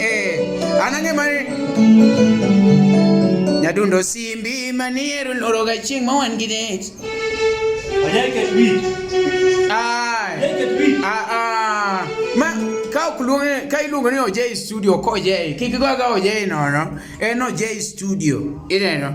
Eh, anang'e mane nyadundo simbi maniero loro ga chieng' ma wan gi det ma ka ok luonge ka iluongo ni ojei studio ok ojei kik goga ojei nono en ojei studio ineno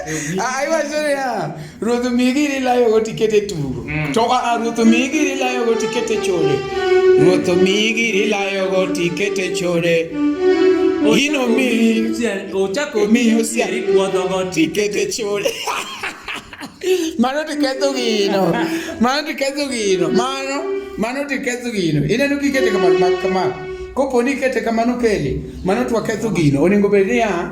aiwazorea ruoth omiyi giri layogo tikete tugo mm. to aa ruoth omiyi giri layogo tikete chode ruoth omiyi giri layogo tikete chode ino miyi osiari puodhogo tikete chode mano tiketho gino mano tiketho gino mano mano tiketho gino ineno kikete kamano kamano koponi ikete kamano kele mano twaketho gino onego bed niya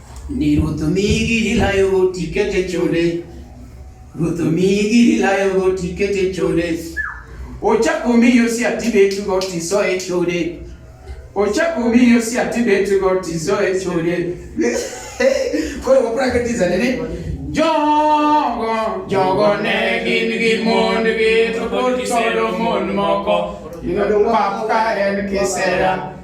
Ni Ruoth omiyi gir ilayogo tiket e chode. Ruoth omiyi gir ilayogo tiket e chode. Ochak omi Yosia tibetgo tiso e chode. Ochak omi Yosia tibetgo tiso e chode. Koro wapra katiza nene. Jogo, jogo ne gin gi mondgi to pod Solomon moko. Pap ka en kisera.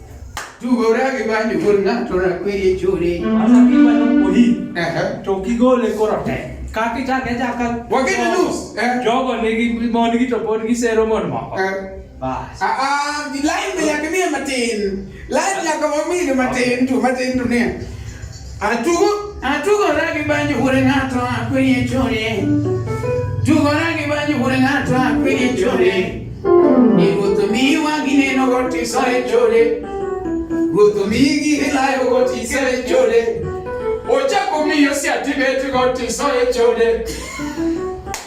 tugore gi banjo wuod ng'ato rakwiri e chode Sasa kiwa na mkohi Ehe. to kigole koro te. Kaka ichako ichaka. Wageni nus, eh. Jogo nigi mon gi to pod gisero mon moko. Eh, Bas. ah, ah, lain be nyaka miye matin lain nyaka wamiye matin tu matin tu ne Atugo atugora gi banjo hore ng'ato akwenye chone. Tugora gi banjo hore ng'ato akwenye chone. Ni ruoth miwa gineno goti sore chone. Ruoth migi hilayo goti sore chone. Ochako miyo siatibet goti sore chone.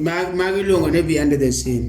Magi luongo ni behind the scene.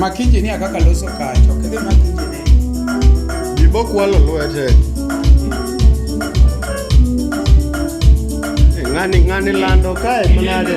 Mak injinia kaka loso kacha, ok idhi mak injinia. Jibo kwalo lwete. Eh, Ng'ani ng'ani lando kae manade.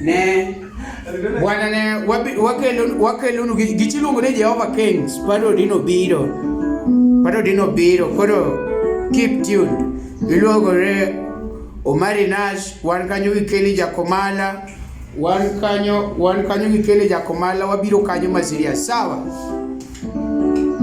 ne bwana ne wakelonu gichiluongo ni Jehova Kings pado dino biro pado dino biro koro keep tuned iluogore Omari Nash wan kanyo gi Kelly Jakomala wan kanyo wan kanyo gi Kelly Jakomala wabiro kanyo ma serious sawa